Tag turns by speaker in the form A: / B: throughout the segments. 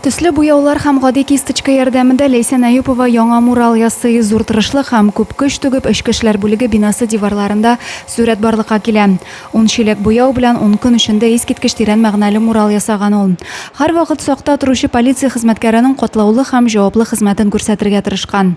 A: Төсле буяулар һәм гади кисточка ярдәмендә Ләйсән Әюпова яңа мурал ясый. Зур тырышлык һәм күп көч түгеп, эчке эшләр бүлеге бинасы диварларында сурәт барлыкка килә. Ун чиләк буяу белән ун көн эчендә искиткеч тирән мәгънәле мурал ясаган ул. Һәрвакыт сакта торучы полиция хезмәткәренең катлаулы һәм җаваплы хезмәтен күрсәтергә тырышкан.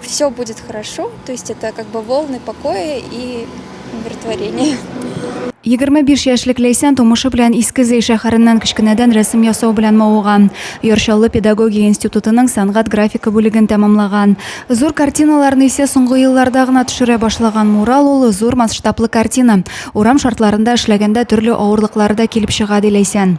B: Все будет хорошо, то есть это как бы волны покоя и умиротворения.
A: 25 яшьлек Ләйсән тумышы белән Иске Зәй шәһәреннән кечкенәдән рәсем ясау белән мавыган. Ярчаллы педагогия институтының сәнгать графика бүлеген тәмамлаган. Зур картиналарны исә соңгы елларда гына төшерә башлаган мурал ул зур масштаблы картина. Урам шартларында эшләгәндә төрле авырлыклар да килеп чыга, ди Ләйсән.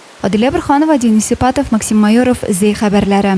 A: Адилә Борханова, Денис Сипатов, Максим Майоров, Зәй хәбәрләре.